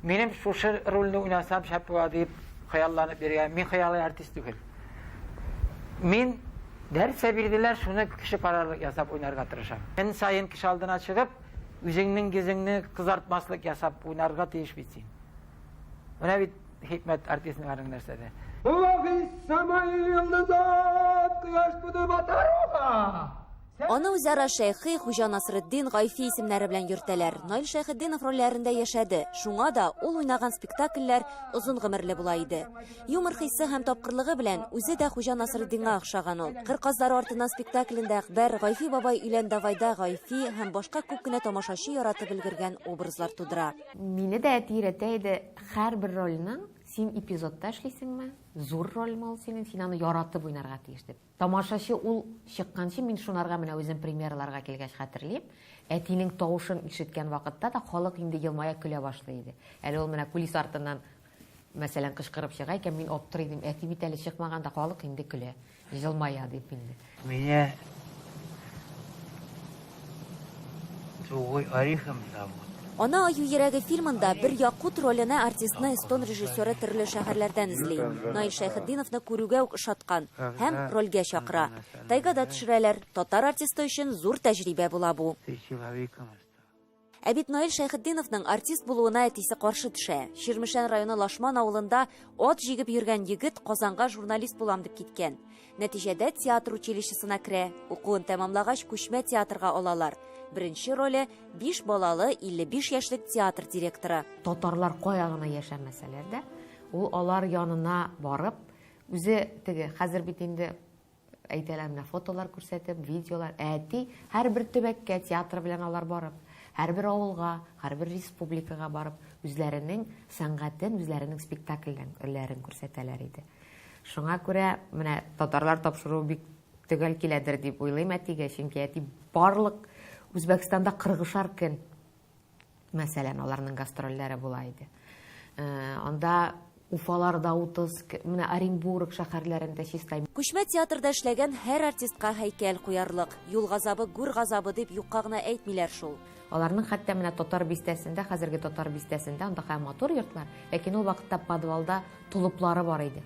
Минем шушы рольне уйнасам шәп була дип хыялланып йөргән. Мин хыялый артист түгел. Мин дәрсә бирделәр, шуны кеше карарлык ясап уйнарга тырышам. Эн сайын кеше алдына чыгып, үзеңнең йөзеңне кызартмаслык ясап уйнарга тиеш бит син. Менә бит хикмәт артистның арын нәрсәдә. Улаһи самай йолдызат кояш туды батаруга. Аны үзара Шәйхи, Хуҗа Насретдин, Гайфи исемнәре белән йөртәләр. Наил Шәйхетдинов рольләрендә яшәде. Шуңа да ул уйнаган спектакльләр озын гомерле була иде. Юмор хиссе һәм тапкырлыгы белән үзе дә Хуҗа Насретдинга охшаган ул. Кыр казлары артыннан спектаклендә Әкбәр, Гайфи бабай өйлән давайда Гайфи һәм башка күп кенә тамашачы яратып өлгергән образлар тудыра. Мине дә әти өйрәтә иде, һәрбер рольның син эпизодта эшлисеңме, зур рольме ул синең, син аны яратып уйнарга тиеш дип. Тамашачы ул чыкканчы мин шунарга менә үзем премьераларга килгәч хәтерлим, әтинең тавышын ишеткән вакытта да халык инде елмая көлә башлый иде. Әле ул менә кулис артыннан Мәсәлән, кычкырып чыга икән, мин аптырый дим, әти бит әле чыкмаганда халык инде көлә, җылмая дип инде. Меня другой орехом зовут. Ана аю йөрәге фильмында бер якут роленә артистны эстон режиссеры төрле шәһәрләрдән эзли. Наил Шәйхетдиновны күрүгә үк ошаткан һәм рольгә чакыра. Тайгада төшерәләр. Татар артисты өчен зур тәҗрибә була бу. Ә бит Наил Шәйхетдиновның артист булуына әтисе каршы төшә. Чирмешән районы Лашман авылында ат җигеп йөргән егет Казанга журналист булам дип киткән. Нәтиҗәдә театр училищесына керә. Укуын тәмамлагач, күчмә театрга алалар. Беренче роле, биш балалы, 55 яшьлек театр директоры. Татарлар кая гына яшәмәсәләр дә, ул алар янына барып, үзе теге, хәзер бит инде Әйтәләр менә фотолар күрсәтеп, видеолар. Әти һәрбер төбәккә театры белән алар барып, һәрбер авылга, һәрбер республикага барып, үзләренең сәнгатен, үзләренең спектакльләрен ләрен күрсәтәләр иде. Шуңа күрә менә татарлар тапшыруы бик төгәл киләдер дип уйлыйм әтигә, чөнки әти барлык Үзбәкстанда 40 шар көн Мәсәлән, аларның гастрольләре була иде. Анда Уфаларда утыз, менә Оренбург шәһәрләрендә чистай. Күчмә театрда эшләгән һәр артистка һәйкәл куярлык. Юл газабы, гүр газабы дип юкка гына әйтмиләр шул. Аларның хәтта менә Татар бистәсендә, хәзерге Татар бистәсендә, анда хәм матур йортлар, ләкин ул вакытта подвалда тулыплары бар иде.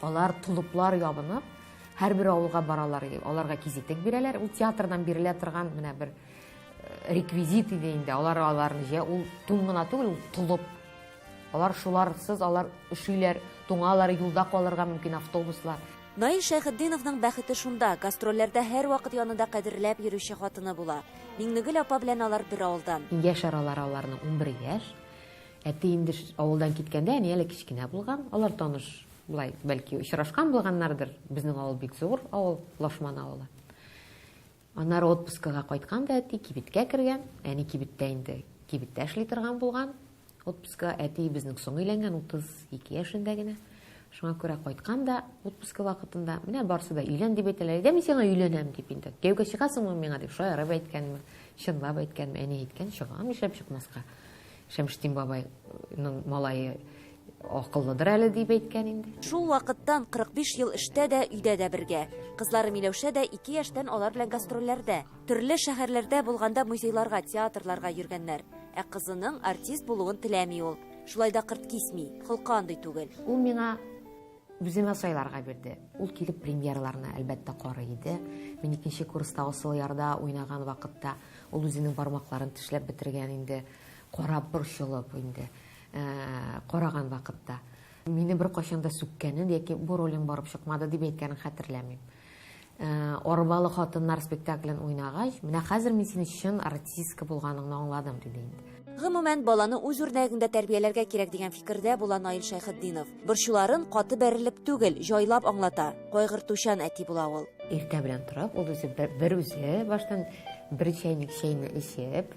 Алар тулыплар ябынып, һәрбер авылга баралар, аларга кизитек бирәләр, ул театрдан бирелә торган менә бер реквизит иде инде алар аларны җә ул тун гына түгел ул толып алар шуларсыз алар өшиләр туңалар юлда калырга мөмкин автобуслар Наил Шәйхетдиновның бәхете шунда, гастрольләрдә һәрвакыт янында кадерләп йөрүче хатыны була. Миңнегөл апа белән алар бер авылдан. Яшь аралары аларның 11 яшь. Әти инде авылдан киткәндә, әни әле кечкенә булган. Алар таныш, былай, бәлки, очрашкан булганнардыр. Безнең авыл бик зур авыл, Лашман авылы. Аннары отпускага кайткан да әти кибеткә кергән. Әни кибеттә инде, кибеттә эшли торган булган. Отпускыга әти безнең соң өйләнгән, 32 яшендә генә. Шуңа күрә кайткан да отпуска вакытында, менә барсы да өйлән дип әйтәләр. Дә мин сиңа өйләнәм дип инде. Кияүгә чыгасыңмы миңа дип шаярып әйткәнмен, чынлап әйткәнмен. Әни әйткән, чыгам, нишләп чыкмаска. Шәмшетдин бабайның малае акыллыдыр әле дип әйткән инде. Шул вакыттан 45 ел эштә дә, өйдә дә бергә. Кызлары Миләүшә дә ике яшьтән алар белән гастрольләрдә. Төрле шәһәрләрдә булганда музейларга, театрларга йөргәннәр. Ә кызының артист булуын теләми ул. Шулай да кырт кисми, холкы андый түгел. Ул миңа Үземә сайларга бирде. Ул килеп премьераларны, әлбәттә, карый иде. Мин икенче курста Асыл ярда уйнаган вакытта ул үзенең бармакларын тешләп бетергән инде, карап, борчылып инде, караган вакытта. Мине беркайчан да сүккәнен яки бу ролең барып чыкмады дип әйткәнен хәтерләмим. Арбалы хатыннар спектаклен уйнагач, менә хәзер мин синең чын артистка булганыңны аңладым, диде инде. Гомумән, баланы үз үрнәгеңдә тәрбияләргә кирәк дигән фикердә була Наил Шәйхетдинов. Борчуларын каты бәрелеп түгел, җайлап аңлата. Кайгыртучан әти була ул. Иртә белән торып, ул үзе берүзе баштан бер чәйнек чәйне эчеп,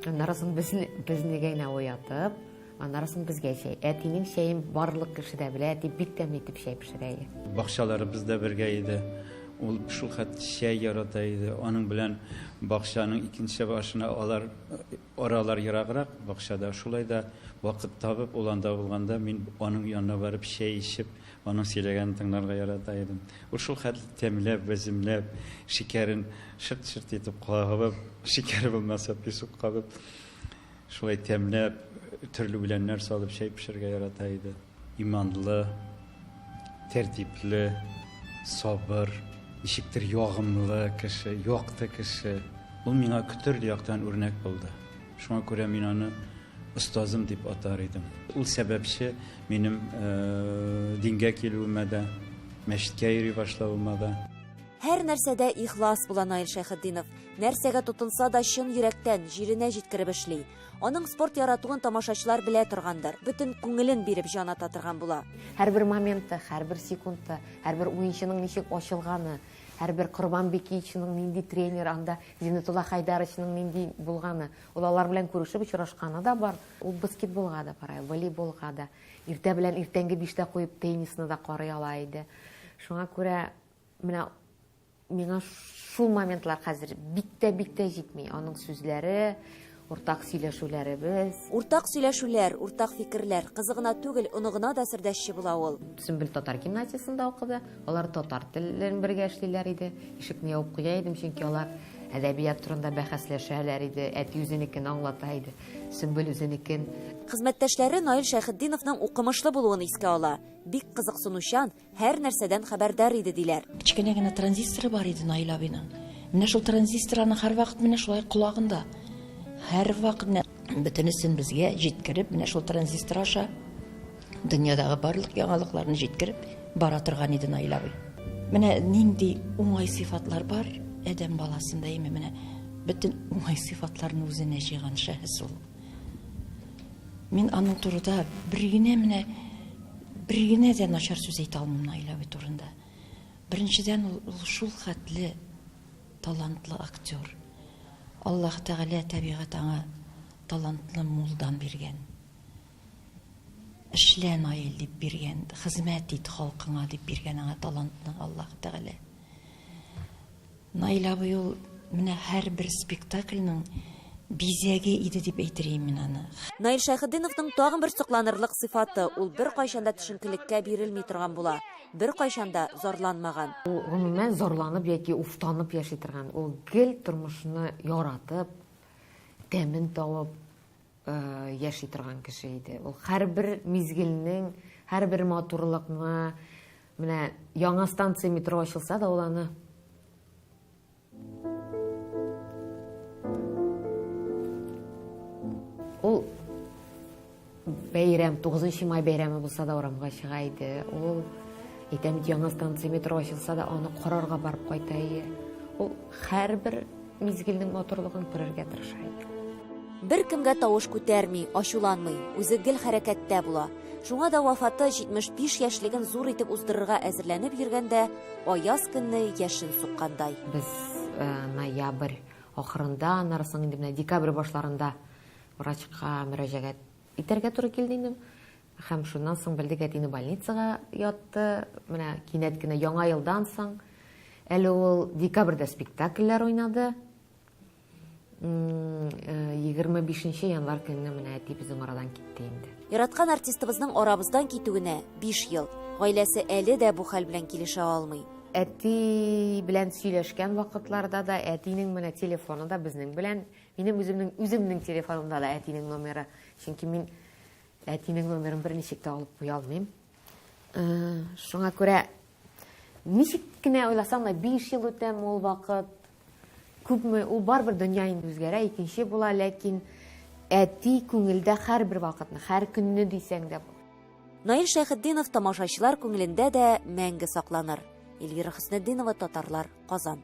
аннары соң безне, безне генә уятып, Аннарысын безгә чәй. Әтинең чәен барлык кеше дә белә, әти бик тәмле итеп чәй пешерә иде. Бакчаларыбыз да бергә иде. Ул шул хәт чәй ярата иде. Аның белән бакчаның икенче башына алар аралар ераграк бакчада. Шулай да вакыт табып ул анда булганда мин аның янына барып чәй ичеп, аның сөйләгәнен тыңларга ярата идем. Ул шул хәтле тәмләп, бәземләп, шикәрен шырт-шырт итеп кагып, шикәр булмаса песок кабып Шулай тәмләп, төрле үләннәр салып чәй пешерергә ярата иде. Иманлы, тәртипле, сабыр, ничектер ягымлы кеше, якты кеше. Ул миңа төрле яктан үрнәк булды. Шуңа күрә мин аны остазым дип атар идем. Ул сәбәпче минем дингә килүемә дә, мәчеткә йөри башлавыма да. Һәр нәрсәдә ихлас була Наил Шәйхетдинов. Нәрсәгә тотынса да чын йөрәктән, җиренә җиткереп эшли. Аның спорт яратуын тамашачылар белә торгандыр, бөтен күңелен биреп җан ата торган була. Һәрбер моменты, һәрбер секунды, һәрбер уенчының ничек ачылганы, һәрбер Корбан Бикиевичның нинди тренер, анда Зиннәтулла Хайдаровичның нинди булганы, ул алар белән күрешеп очрашканы да бар. Ул баскетболга да бара, волейболга да, иртә белән иртәнге биштә куеп теннисны да карый ала иде. Шуңа күрә Менә миңа шул моментлар хәзер бик тә бик тә җитми. Аның сүзләре, уртак сөйләшүләребез. Уртак сөйләшүләр, уртак фикерләр. Кызы гына түгел, оныгына да сердәшче була ул. Сөмбел татар гимназиясендә укыды. Алар татар телен бергә эшлиләр иде. Ишекне ябып куя идем, чөнки алар әдәбият турында бәхәсләшәләр иде. Әти үзенекен аңлата иде, Сөмбел үзенекен. Хезмәттәшләре Наил Шәйхетдиновның укымышлы булуын искә ала. Бик кызыксынучан, Һәр нәрсәдән хәбәрдар иде, диләр. Кечкенә генә транзисторы бар иде Наил абыйның. Менә шул транзистор аның һәрвакыт менә шулай колагында. Һәрвакыт менә бөтенесен безгә җиткереп, менә шул транзистор аша дөньядагы барлык яңалыкларны җиткереп бара торган иде Наил абый. Менә нинди уңай сыйфатлар бар адәм баласында, әйме, менә бөтен уңай сыйфатларны үзенә җыйган шәхес ул. Мин аның турыда бер генә менә бер генә дә начар сүз әйтә алмыйм Наиләби турында. Беренчедән ул шул хәтле талантлы актер. Аллаһ Тәгалә табигать аңа талантлы мулдан биргән. Эшлә Наил дип биргән, хезмәт ит халкыңа дип биргән аңа талантны Аллаһ Тәгалә. Наил абый ул менә һәрбер спектакльның бизәге иде дип әйтер ем мин аны. Наил Шәйхетдиновның тагын бер сокланырлык сыйфаты, ул беркайчан да төшенкелеккә бирелми торган була, беркайчан да зарланмаган. Ул гомумән зарланып яки уфтанып яши торган, ул гел тормышны яратып, тәмен табып, яши торган кеше иде. Ул һәрбер мизгелнең, һәрбер матурлыкны, менә яңа станция метро ачылса да ул аны Ул бәйрәм, 9 май бәйрәме булса да урамга чыга иде. Ул әйтәм бит, яңа станция метро ачылса да аны карарга барып кайта иде. Ул һәрбер Мизгелнең матурлыгын күрергә тырыша иде. Беркемгә тавыш күтәрми, ачуланмый, үзе гел хәрәкәттә була. Шуңа да вафаты 75 яшьлеген зур итеп уздырырга әзерләнеп йөргәндә, аяз көнне яшен суккандай. Без ноябрь ахырында, аннары соң инде менә декабрь башларында врачка мөрәҗәгать итәргә туры килде инде. Һәм шуннан соң белдек, әтине больницага ятты. Менә кинәт кенә яңа елдан соң, әле ул декабрьдә спектакльләр уйнады. 25 э, январь көнне менә әти безнең арадан китте инде. Яраткан артистыбызның арабыздан китүенә 5 ел. Гаиләсе әле дә бу хәл белән килешә алмый. Әти белән сөйләшкән вакытларда да әтинең менә телефоны да безнең белән, минем үземнең үземнең телефонымда да әтинең номеры. Чөнки мин Әтинең номерын берничек тә алып куя алмыйм. Шуңа күрә ничек кенә уйласам да 5 ел үтәм ул вакыт. Күпме ул барбер дөнья инде үзгәрә, икенче була, ләкин әти күңелдә һәрбер вакытны, һәр көнне дисәң дә. Наил Шәйхетдинов тамашачылар күңелендә дә мәңге сакланыр. Эльвира Хөснетдинова, Татарлар, Казан.